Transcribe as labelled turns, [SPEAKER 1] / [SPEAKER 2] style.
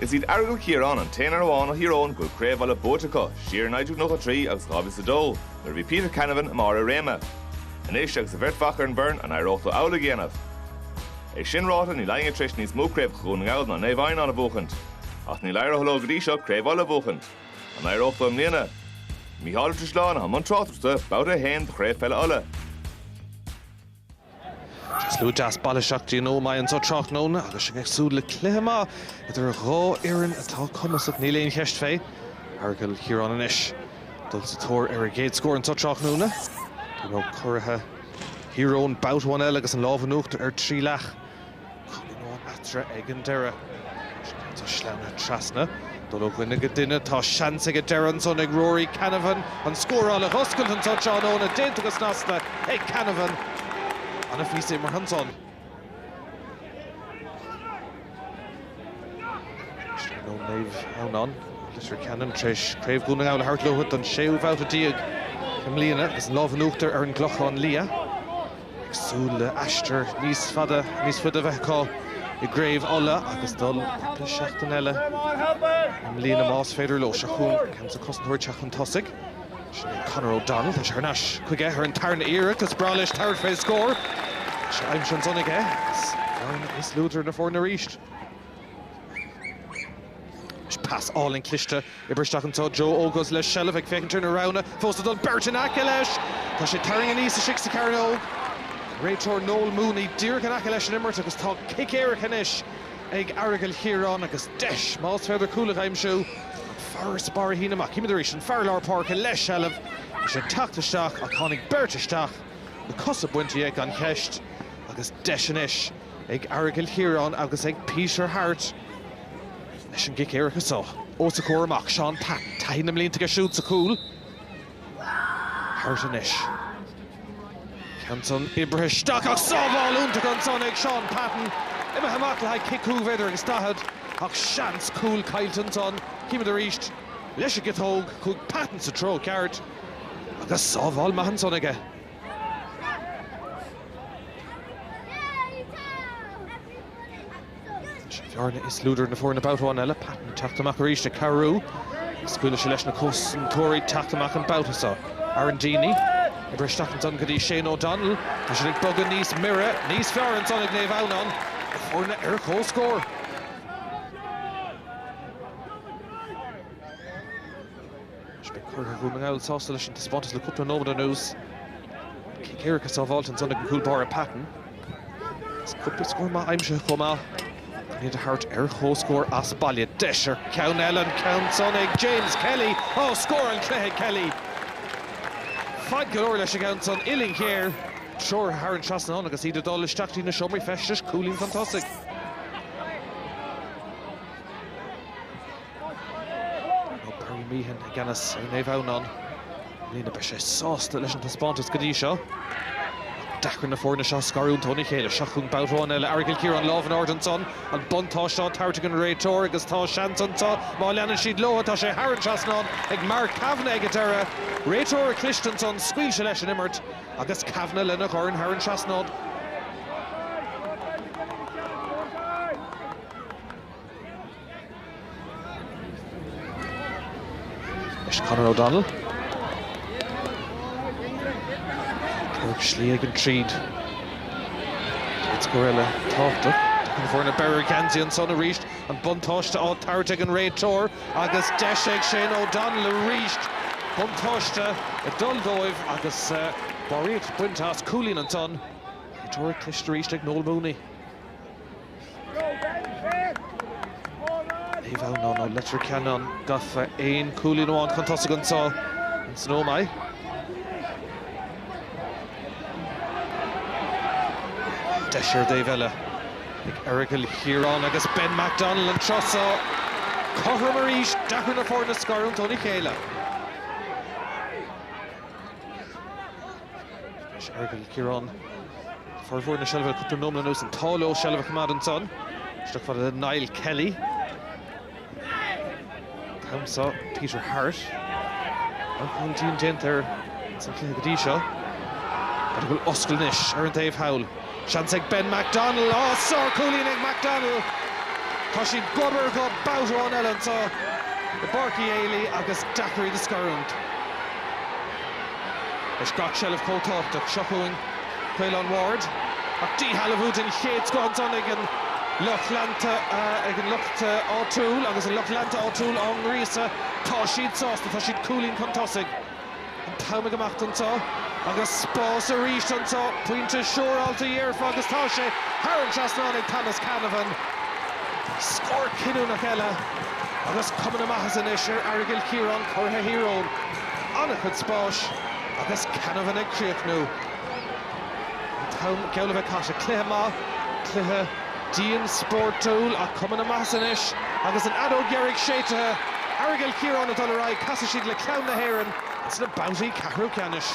[SPEAKER 1] Is iad Aireagal Chiaráin an t-aon fhoireann amháin ó Thír Eoghain go bhfuil Craobh Uladh buaite acu, siar in 1993 agus 2002, nuair a bhí Peter Canavan i mbarr a réime. Anois agus a bheirt mhac ar an bhfoireann, an éireodh leo amhlaidh a dhéanamh? É sin ráite, níl éinne tar éis níos mó craobhacha Dhún na nGall ná Naomh Adhamhnáin a bhuachaint. Ach níl éirithe leo go dtí seo Craobh Uladh a bhuachaint. An éireodh leo i mbliana? Micheál Ó Drisleáin i mbun tráchtaireachta, Babhta 1 de Chraobh Peile Uladh. Slua deas bailithe isteach go dtí an Ómaigh anseo tráthnóna agus sinn ag súil le cluiche maith idir dhá fhoireann atá cumasach. Níl aon cheist fé Aireagal Chiaráin anois dul sa tóir ar a gcéad scór anseo tráthnóna. Ina gcuraidh Thír Eoghain babhta amháin eile agus an lámh in uachtar ar Trileac Cúilín eatarthu ag an deireadh. Anois caithfidh tú sleamhnú trasna, dul ó dhuine go duine. Tá seans ag deireadh ansan ag Ruairí Canavan an scóráil a dh'oscailt anseo tráthnóna, déanta go snasta ag Canavan. An-phíosa imeartha ansan uaidh. Naomh Adhamhnáin, Leitir Ceanainn tar éis Craobh Dhún na nGall a thabhairt leo don séú bhabhta déag i mbliana agus an lámh in uachtar ar an gClochán Liath. ag súil le aistear níos fada, níos faide a bheith acu i gCraobh Uladh agus dul cúpla seachtain eile i mbliana más féidir leo. Seo chugainn an ceann so, cosantóir ag teacht chun tosaigh. Sin é Conor O'Donnell. Tá sé thar n-ais chuige ar an tarna iarracht. Is breá leis tabhairt fé scór. Tá sé aimsithe ansan aige agus an ní is lú idir na foirne arís. Pas álainn cliste. Oibrithe isteach anseo Joe Oguz le seilbh, ag féachaint ar na roghanna fós le dul. Beirt in aice leis! Tá sé ag tarraing aníos istigh sa chearnóg. Réiteoir Noel Mooney díreach in aice leis an imirt agus tá cic éirice anois ag Aireagal Chiaráin agus deis, más féidir cúl a aimsiú. An farasbarr a shíneadh amach. Címid arís an fear lár páirce le seilbh. Bhí sé ag teacht isteach ach tháinig beirt isteach, na cosa bainte dhe gan cheist agus deis anois. ag Aireagal Chiaráin agus ag Peter Harte leis an gcic éirice seo os a chomhair amach, Shaun Patton, taithí na mblianta aige siúd sa chúl. Harte anois. Ceann san oibrithe isteach ach sábháil iontach ansan ag Shaun Patton, imithe amach le haghaidh cic cúig mhéadar agus daichead ach seans cúil caillte ansan. Címid arís leis an gciotóg, chuaigh Patton sa treo ceart agus sábháil maith ansan aige. Bhearna is lú idir na foirne babhta amháin eile, Patton ag teacht amach arís ag cabhrú. Scaoileann sé leis na cosantóirí ag teacht amach an babhta seo. Aaron Deeney, oibrithe isteach ansan go dtí Shane O'Donnell. Tá siad ag bogadh níos mire, níos fearr ansan ag Naomh Adhamhnáin, na foirne ar comhscór. Is beidh curaidh Dhún na nGall sásta leis an taispeántas le cúpla nóiméad anuas. Cic éirice sábháilte ansan ag an gcúl báire Patton. Is cúpla scór maith aimsithe chomh maith. Chun iad a thabhairt ar chomhscór as baile. Deis ar cheann eile, an ceann san ag James Kelly. Á, scór an chluiche ag Kelly. Faid go leor leis an gceann san uillinn ghéar. Treoraithe thar an trasnán agus iad ag dul isteach dtí na seomraí feistis, cúilín chun tosaigh. Tá Barry Meehan i gceannas ar Naomh Adhamhnáin i mbliana. Beidh sé sásta leis an taispeántas go dtí seo. Deacair na foirne seo a scarúint óna chéile. Seo chugainn babhta amháin eile. Aireagal Chiaráin lámh in airde ansan. An buntáiste á tabhairt ag an réiteoir agus tá seans anseo má leanann siad leo. Tá sé thar an trasnán ag Mark Kavanagh ag an deireadh. Réiteoir cliste ansan, scaoil sé leis an imirt agus Kavanagh lena dhorn thar an trasnán. Is Conor O'Donnell. Tabhair slí ag an tríd. Ag scór eile tábhachtach. Tagann foirne breith ar gheansaí ansan arís. An buntáiste á tabhairt ag an réiteoir agus deis ag Shane O'Donnell arís buntáiste ag dul dóibh agus barraíocht bainte as. Cúilín ansan. Réiteoireacht chliste arís ag Noel Mooney. Naomh Adhamhnáin Leitir Ceanainn gafa aon cúilín amháin chun tosaigh anseo in san Ómaigh. Deis ar an dtaobh eile ag Aireagal Chiaráin agus Ben McDonnell an tráth seo. Cothrom arís, deacair na foirne scarúint óna chéile. Aireagal Chiaráin, formhór na seilbhe le cúpla nóiméad anuas, an t-ádh leo seilbh a choimeád ansan, isteach fada le Niall Kelly. An t-am seo Peter Harte. Marcáil dhian déanta air sa chluiche go dtí seo. B'fhéidir go bhfuil oscailt anois ar an taobh thall? Seans ag Ben McDonnell. Á, sárchúilín ag McDonnell. Tá siad gob ar ghob babhta amháin eile anseo i bPáirc Uí Éalaí agus deacair iad a scarúint. Is gach seilbh chomh tábhachtach. Seo chugainn Caolán Ward ach díshealbhú den chéad scoth ansan ag an lucht leanta ag an lucht áitiúil agus an lucht leanta áitiúil á ngríosadh. Tá siad sásta, tá siad cúilín chun tosaigh. An t-am ag imeacht anseo agus spás arís anseo. Pointe siúráilte dhéarfá agus tá sé thar an trasnán ag Thomas Canavan. Scór cinniúnach eile agus cuma na maitheasa anois ar Aireagal Chiaráin curaidh Thír Eoghain. an-chuid spáis agus Canavan ag críochnú Galbally ag casadh cluiche maith, cluiche dian spórtúil ach cuma na maitheasa anois agus an fheadóg dheiridh séidte. Aireagal Chiaráin ag dul ar aghaidh, casfaidh siad le Ceann na hÉireann sna babhtaí ceathrú ceannais.